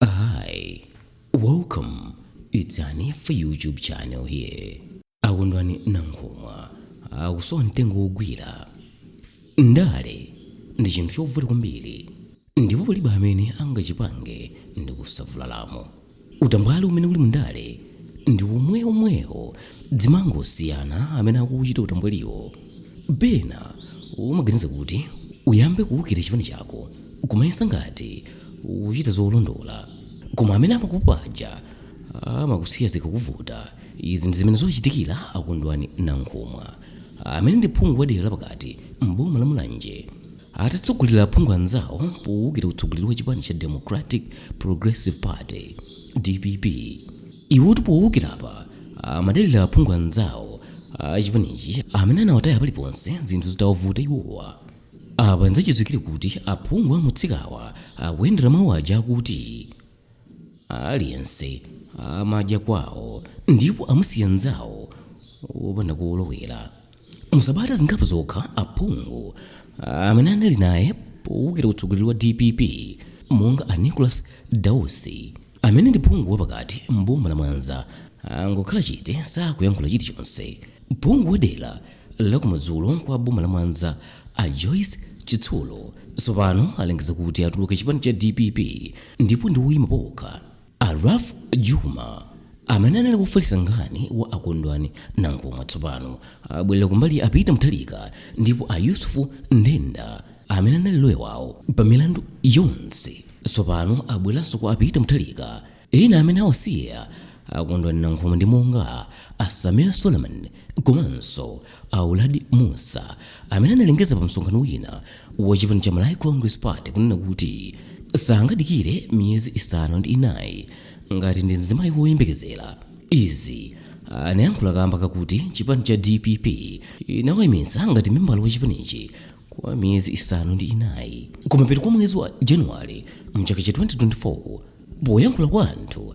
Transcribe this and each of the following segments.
Hi, welcome. It's Hanifa YouTube channel here. A Kondwani Nankhumwa akusowa mtengo wogwira. Ndale ndi chinthu chovuta kwambiri ndipo palibe amene angachipange ndi kusavulalamo. Utambwali umene uli mundale ndi womwewomwewo zimangosiyana amene akuuchita utambwaliwo. Pena umaganiza kuti uyambe kuukira chipani chako kumayesa ngati ukuchita zolondola koma amene amakupopa aja amakusiya zikakuvuta. Izi ndi zimene zawachitikira a Kondwani Nankhumwa amene ndi phungu wa dera la pakati m'boma la Mulanje atatsogolera aphungu anzawo poukira utsogoleri wa chipani cha Democratic Progressive Party, dpp. Iwotu poukira apa amadalira aphungu anzawo a chipanichi amene anawataya paliponse zinthu zitawavuta iwowa. Apa n'zachidziwikire kuti aphungu amutsikawa akuyendera mawu aja akuti, Aliyense amadya kwawo ndipo amusiya mnzawo wopanda kolowera. Musabata zingapo zokha aphungu amene anali naye powukira utsogoleri wa dpp monga a Nicholas Dausi amene ndi phungu wapakati m'boma la Mwanza angokhala chete sakuyankhula chilichonse. Phungu wa dera la kumadzulo kwa boma la Mwanza a Joyce Chitsulo tsopano alengeza kuti atuluka chipani cha dpp ndipo ndi woyima pawokha. A Ralph Jooma, amene anali wofalitsa nkhani wa a Kondwani Nankhumwa tsopano abwerera kumbali ya a Peter Mutharika ndipo a Yusuf Nthenda, amene anali loya wawo pa milandu yonse, tsopano abweranso kwa a Peter Mutharika. Ena amene awasiya a Kondwani Nankhumwa ndi monga a Sameer Suleman komanso a Uladi Mussa, amene analengeza pamsonkhano wina wa chipani cha Malawi Congress Party kunena kuti sangadikire miyezi isanu ndi inayi ngati ndi mzimayi woyembekezera. Izi anayankhula kamba kakuti chipani cha dpp inawaimitsa ngati membala wa chipanichi kwa miyezi isanu ndi inayi kumapeto kwa mwezi wa January mchaka cha 2024. Poyankhula kwa anthu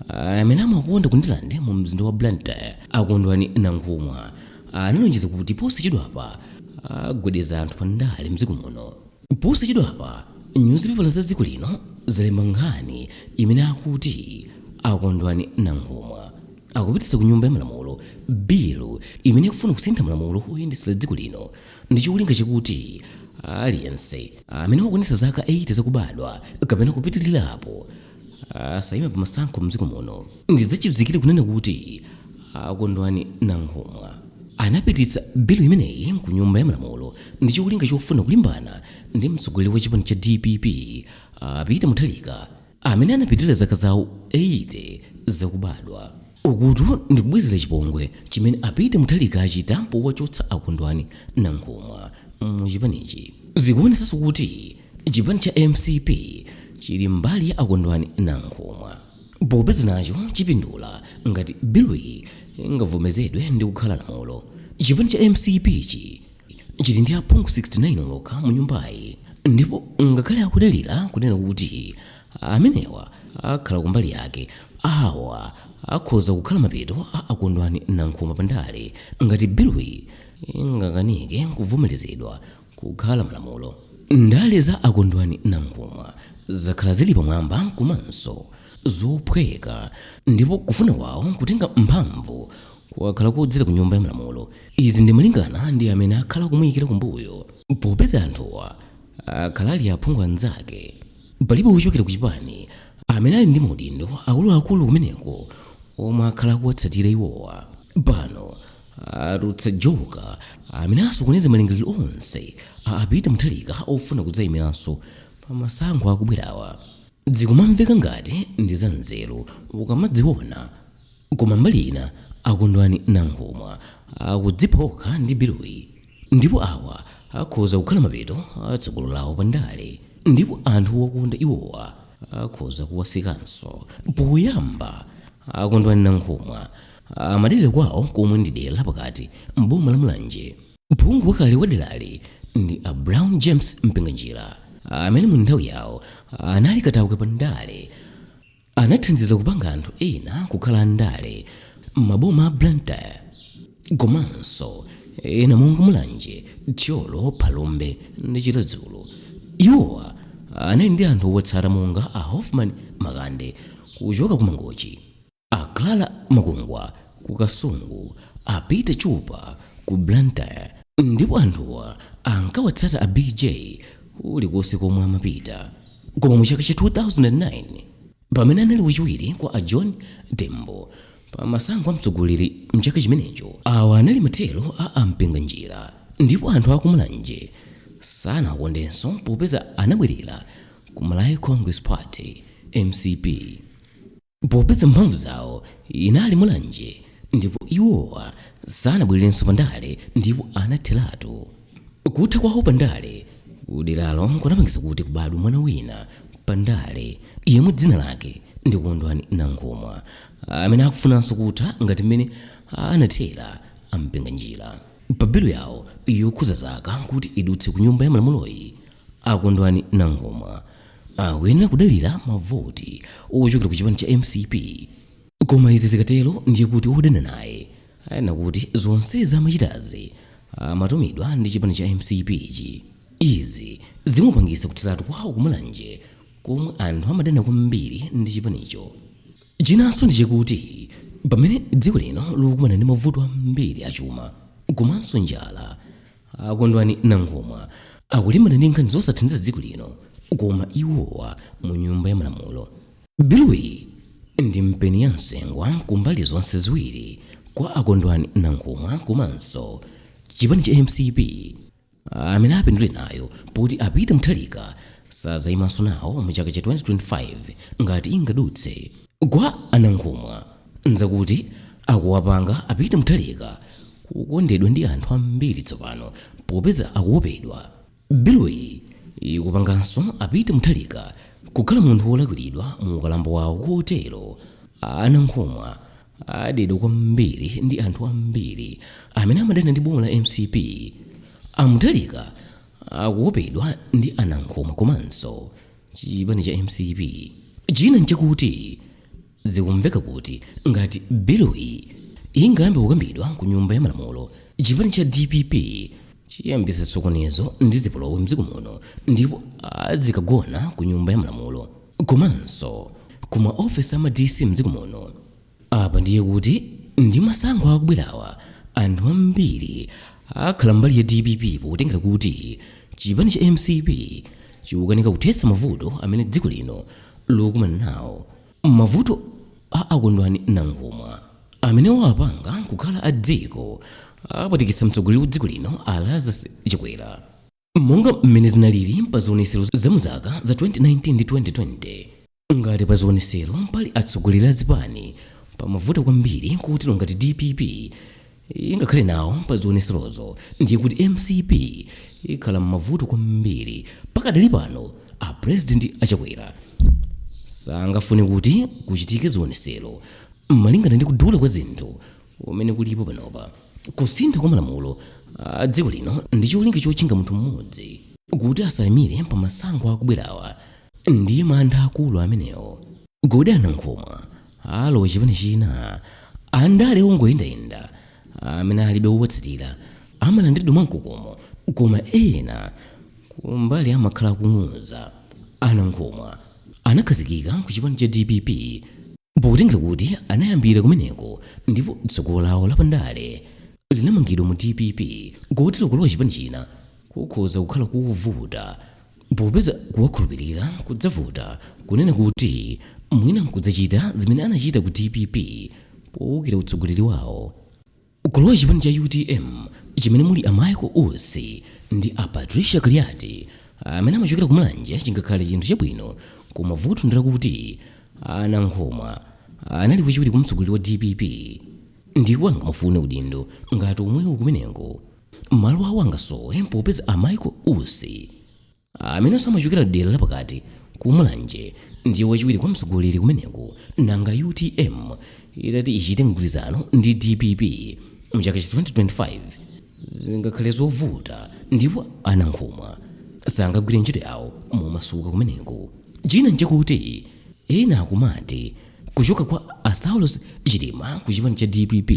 amene amawakonda ku ndirande mu mzinda wa blantyre a kondwani nankhumwa analonjeza kuti posachedwapa agwedeza anthu pa ndale mdziko muno posachedwapa nyuzipepala za dziko lino zalemba nkhani imene akuti a kondwani nankhumwa akupititsa ku nyumba ya malamulo bilu imene ikufuna kusintha malamulo oyendetsera dziko lino ndi cholinga chakuti aliyense amene wakwanitsa zaka 80 zakubadwa kapena kupitirirapo Asayime pa masankho mdziko muno ndi zachidziwikire kunena kuti a Kondwani Nankhumwa anapititsa bilu imeneyi ku nyumba ya malamulo ndicholinga chofuna kulimbana ndi mtsogoleri wa chipani cha dpp a Peter Mutharika amene anapitilira zaka zawo 80 zakubadwa. Ukutu ndi kubwezera chipongwe chimene a Peter Mutharika achita powachotsa a Kondwani Nankhumwa mu chipanichi. Zikuonesanso kuti Chipani cha mcp chili mbali ya Akondwani Nankhumwa popeza nacho chipindula ngati biluyi ingavomezedwe ndi kukhala lamulo. Chipani cha mcpchi chili ndi aphungu 69 okha mu nyumbayi ndipo ngakhale akudalira kunena kuti amenewa akhala kumbali yake, awa akhoza kukhala mapeto a Akondwani Nankhumwa pa ndale ngati biluyi ingakanike kuvomelezedwa. kukhala malamulo. Ndale za a Kondwani Nankhumwa zakhala zili pamwamba komanso zophweka ndipo kufuna kwawo kutenga mphamvu kwakhala kodzera ku nyumba ya malamulo. Izi ndi malingana ndi amene akhala akumuyikira kumbuyo popeza anthuwa akhala ali aphungu anzake. Palibe wochokera ku chipani amene ali ndi maudindo akuluakulu kumeneko omwe akhala akuwatsatira iwowa. Pano atulutsa joka amene asokoneze malingaliro onse a Peter Mutharika ofuna kudzayimiranso pa masankho akubwerawa zikumamveka ngati ndi za nzeru ukamaziona koma mbali ina akondwani nankhumwa akudzipha okha ndi biluyi Ndipo awa akhoza kukhala mapeto a tsogolo lawo pa ndale, ndipo anthu owakonda iwowa akhoza kuwasiyanso. Poyamba, a Kondwani Nankhumwa amadalira kwawo komwe ndi dera la pakati m'boma la Mulanje. Phungu wakale wa derali ndi a Brown James Mpinganjira, amene mu nthawi yawo anali katakwe pa ndale, Anathandizira kupanga anthu ena kukhala andale m'maboma a Blantyre komanso ena monga Mulanje, Thyolo, Phalombe ndi Chiradzulu. Iwowa anali ndi anthu owatsata monga a Hoffman Makande kuchoka ku Mangochi, a Clara Makungwa ku Kasungu, a Peter Chupa ku Blantyre ndipo anthuwa ankawatsata a BJ kulikonse komwe amapita. koma mu chaka cha 2009 pamene anali wachiwiri kwa a john tembo pamasankho a mtsogoleri mchaka chimenecho awa anali mathero a a Mpinganjira ndipo anthu akumulanje sanawakondenso popeza anabwerera ku malawi congress party mcp popeza mphamvu zawo inali mulanje ndipo iwowa sanabwererenso pandale ndipo anatheratu. Kutha kwawo pandale kuderalo kunapangitsa kuti kubadwe mwana wina pandale yemwe dzina lake ndi Kondwani Nankhumwa amene akufunanso kutha ngati mmene anathera a Mpinganjira. Pa bilu yawo yokhudza zaka kuti idutse ku Nyumba ya Malamuloyi, a Kondwani Nankhumwa Akuyenera kudalira mavoti ochokera ku chipani cha mcp koma izi zikatero ndiye kuti odana naye anena kuti zonsezi amachitazi amatumidwa ndi chipani cha mcp chi. Izi zimupangitsa kutheratu kwawo ku Mulanje komwe anthu amadana kwambiri ndi chipanicho. Chinanso ndi chakuti pamene dziko lino likukumana ndi mavuto ambiri a chuma komanso njala, a kondwani nankhumwa akulimbana ndi nkhani zosathandiza dziko lino koma iwowa mu nyumba ya malamulo biluyi ndi mpeni wa nsengwa ku mbali zonse ziwiri kwa akondwani nankhumwa komanso chipani cha mcp amene apindule nayo poti a Peter Mutharika sadzayimanso nawo mu chaka cha 2025 ngati ingadutse kwa anankhumwa nzakuti akuwapanga a Peter Mutharika kukondedwa ndi anthu ambiri tsopano popeza akuopedwa biluyi ikupanganso a Peter Mutharika kukhala munthu wolakwiridwa mu ukalamba wawo kotero anankhumwa adedwa kwambiri ndi anthu ambiri amene amadana ndi boma la mcp a Mutharika akuopedwa ndi anankhumwa komanso chipani cha mcp china nchakuti zikumveka kuti ngati biluyi ingayambe kukambidwa ku nyumba ya malamulo chipani cha dpp chiyambisa chisokonezo ndi zipolowe mdziko muno ndipo adzikagona ku nyumba ya malamulo komanso ku maofesi ama dc mdziko muno Apa ndiye kuti ndi masankho akubwerawa anthu ambiri akhala mbali ya dpp potengera kuti chipani cha mcp chikukanika kuthetsa mavuto amene dziko lino likukumana nawo mavuto a a Kondwani Nankhumwa amene wapanga nkukhala a dziko avutikitsa mtsogoleri wa dziko lino a lazarus chakwera monga mmene zinalili pa zionetsero za mu zaka za 2019 ndi 2020 ngati pa zionetsero pali atsogoleri a zipani pamavuta kwambiri kotero ngati dpp ingakhale nawo pa zionetserozo ndiye kuti mcp ikhala m'mavuto kwambiri pakadali pano a president achakwera sangafune kuti kuchitike zionetsero malingana ndi kudula kwa zinthu umene kulipo panopa. Kusintha kwa malamulo a dziko lino ndi cholinga chotchinga munthu mmodzi kuti asaimire pa masankho akubwerawa ndiye mantha akulu amenewo. Kodi a Nankhumwa alowa chipani china? Andale ongoyendayenda amene alibe wowatsatira amalandiridwa mwamkokomo koma ena kumbali amakhala akung'ung'uza. A Nankhumwa anakhazikika ku chipani cha dpp Potengera kuti anayambira kumeneko ndipo tsogolo lawo la pandale linamangidwa mu dpp, kotero kulowa chipani china kukhoza kukhala kovuta popeza kuwakhulupirira kudzavuta kunena kuti mwina nkudzachita zimene anachita ku dpp poukira utsogoleri wawo. Kulowa chipani cha utm chimene muli a Michael Usi ndi a Patricia Kaliati amene amachokera ku Mulanje chingakhale chinthu chabwino koma vuto ndilakuti a Nankhumwa anali wachiwiri kwa mtsogoleri wa dpp ndipo angamufune udindo ngati omwewo kumeneko. Malo awo angasowe popeza a Michael Usi amenenso amachokera dera lapakati ku mulanje ndiye wachiwiri kwa mtsogoleri kumeneko nanga utm itati ichite mgwirizano ndi dpp mchaka cha 2025 zingakhale zovuta ndipo a nankhumwa sangagwire ntchito yawo momasuka kumeneko china nchakuti ena akumati kuchoka kwa a saulos chilima ku chipani cha dpp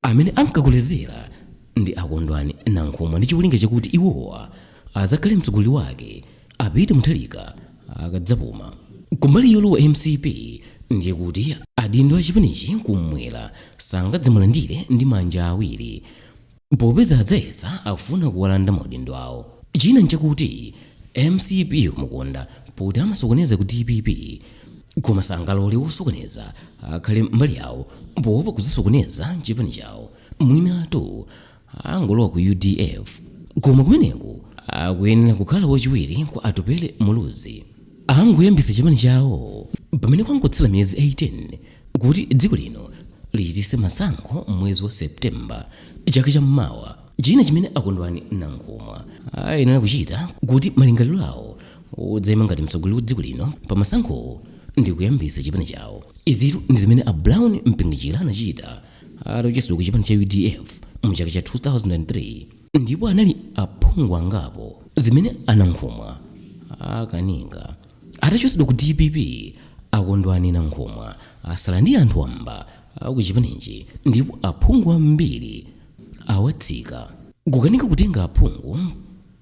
Amene ankakolezera ndi a Kondwani Nankhumwa ndi cholinga chakuti iwowa adzakhale mtsogoleri wake a Peter Mutharika akadzapuma. Kumbali yolowa mcp ndiye kuti adindo a chipanichi kummwera sangadzamulandire ndi manja awiri popeza adzayesa akufuna kuwalanda maudindo awo. China nchakuti mcp ikumukonda poti amasokoneza ku dpp koma sangalole wosokoneza akhale mbali yawo poopa kudzasokoneza chipani chawo mwinatu angolowa ku udf koma kumeneko akuyenera kukhala wachiwiri kwa atupele muluzi angoyambitsa chipani chawo pamene kwangotsala miyezi 18 kuti dziko lino lichititse masankho mwezi wa septemba chaka cha mawa china chimene a kondwani nankhumwa ayenera kuchita kuti malingaliro awo odzaima ngati mtsogoleri wa dziko lino pa masankhowo ndi kuyambitsa chipani chawo izitu ndi zimene a brown mpinganjira anachita atachotsedwa ku chipani cha udf mu chaka cha 2003 ndipo anali ndi aphungu angapo zimene a nankhumwa akanika atachotsedwa ku dpp a kondwani nankhumwa atsala ndi anthu wamba a kuchipanichi ndipo aphungu ambiri awatsika kukanika kutenga aphungu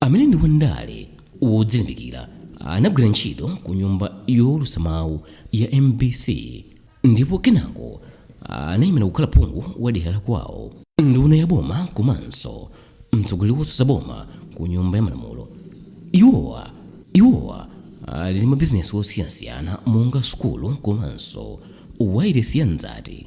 amene ndi wandale wodzilimbikira anagwira ntchito ku nyumba yowulutsa mawu ya mbc ndipo kenako anayimira kukhala phungu wa dera la kwawo nduna ya boma komanso mtsogoleri wotsutsa boma ku nyumba ya malamulo iwowa ali ndi mabizinesi osiyanasiyana monga sukulu komanso wailesi ya mzati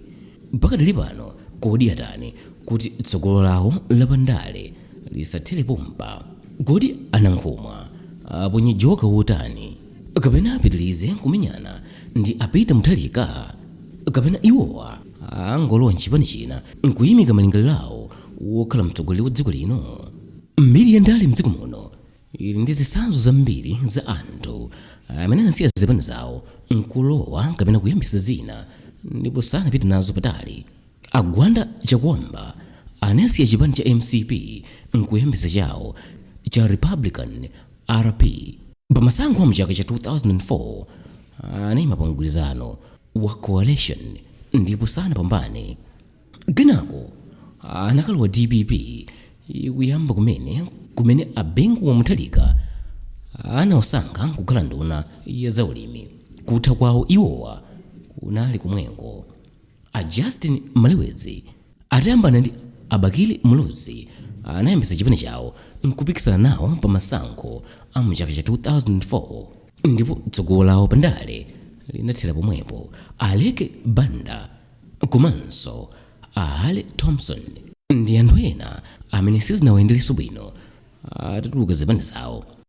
Pakadali pano kodi atani kuti tsogolo lawo lapandale lisathere pompa? Kodi a Nankhumwa aponye joker wotani? Kapena apitilize kumenyana ndi a Peter Mutharika? Kapena iwowa angolowa mchipani china nkuyimika malingaliro awo wokhala mtsogoleri wa dziko lino? Mbiri ya ndale mdziko muno ili ndi zitsanzo zambiri za anthu amene anasiya zipani zawo nkulowa kapena kuyambisa zina ndipo sanapite nazo patali a gwanda chakuamba anasiya chipani cha mcp nkuyambisa chawo cha republican rp pamasankho a mchaka cha 2004 anayima pa mgwirizano wa coalition ndipo sanapambane Kenako anakalowa dpp ikuyamba kumene kumene a Bingu wa Mutharika anawasankha kukhala nduna ya zaulimi. Kutha kwawo iwowa kunali komweko. A Justin Malewezi atayambana ndi a Bakili Muluzi anayambitsa chipani chawo n'kupikisana nawo pa masankho a mu chaka cha 2004 ndipo tsogolo lawo pa ndale linathera pomwepo. Aleke Banda. Komanso a Harry Thomson ndi anthu ena amene sizinawayenderenso bwino atatuluka zipani zawo.